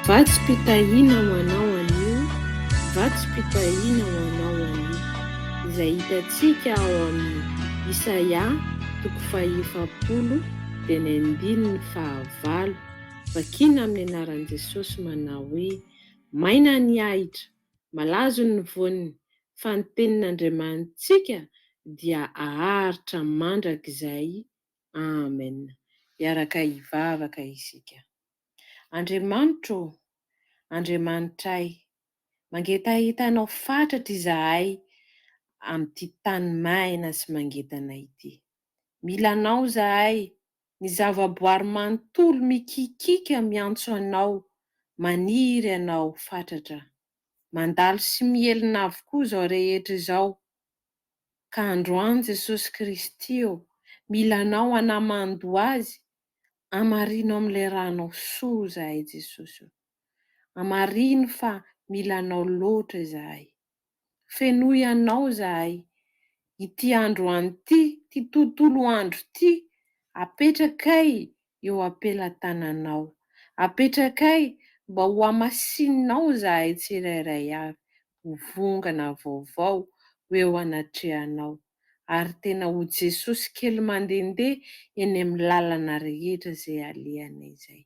Vatsim-pitahiana ho anao anio, vatsim-pitahiana ho anao anio, izay hitantsika ao amin'ny Isaia toko faha-efapolo dia ny andininy fahavalo, vakiana amin'ny anaran'i Jesosy manao hoe, Maina ny ahitra, malazo ny voany, fa ny tenin'Andriamanitsika dia haharitra mandrakizay Amen! Hiaraka hivavaka isika. Andriamanitro ô! Andriamanitray! Mangetahita Anao fatratra izahay amin'ity tany maina sy mangetana ity. Mila Anao izahay, ny zavaboary manontolo mikikiaka miantso Anao, maniry Anao fatratra. Mandalo sy miely-navo koa izao rehetra izao Ka androany Jesosy Kristy ô, mila anao hanaman-doha azy, hamarino amin'ilay ranao soa izahay Jesosy ô. Hamarino fa mila anao loatra izahay. Fenoy anao izahay, ity androany ity, ity tontolo andro ity, apetrakay eo am-pelatananao. Apetrakay mba ho hamasininao izahay tsirairay avy ho vongana vaovao ho eo anatrehanao, ary tena ho Jesosy kely mandehandeha eny amin'ny lalana rehetra izay alehanay izay.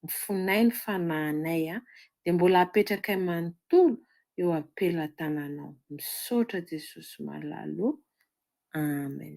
Mifonay ny fanahinay an, dia mbola apetrakay manontolo eo am-pelatananao. Misaotra Jesosy malala o. Amen.